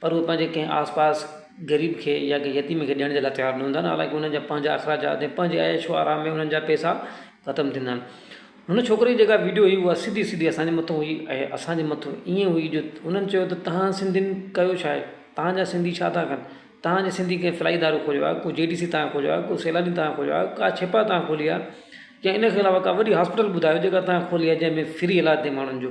پر اهي پنهنجي ڪنهن آس پاس غريب کي يا ڪنهن يتيم کي ڏيڻ جي لاء تيار نه هوندا آهن حالانڪه انهن جا پنهنجا اخراجات ۽ پنهنجي عيش و آرام ۾ انهن جا پئسا ختم ٿيندا آهن هن ڇوڪري جي جيڪا ويڊيو هئي اها سڌي سڌي اسان جي مٿو هئي ۽ اسان جي مٿو ائين هئي جو انهن چيو ته توهان سنڌين ڪيو ڇا آهي توهان جا سنڌي ڇا ٿا ڪن توهان جي سنڌي ڪنهن فلائي ادارو کوليو آهي ڪو جي ڊي سي توهان کوليو آهي ڪو سيلاني توهان کوليو آهي ڪا ڇپا توهان کولي آهي يا ان کي علاوه ڪا وڏي هاسپيٽل ٻڌايو جيڪا توهان کولي آهي جنهن ۾ فري علاج ٿئي ماڻهن جو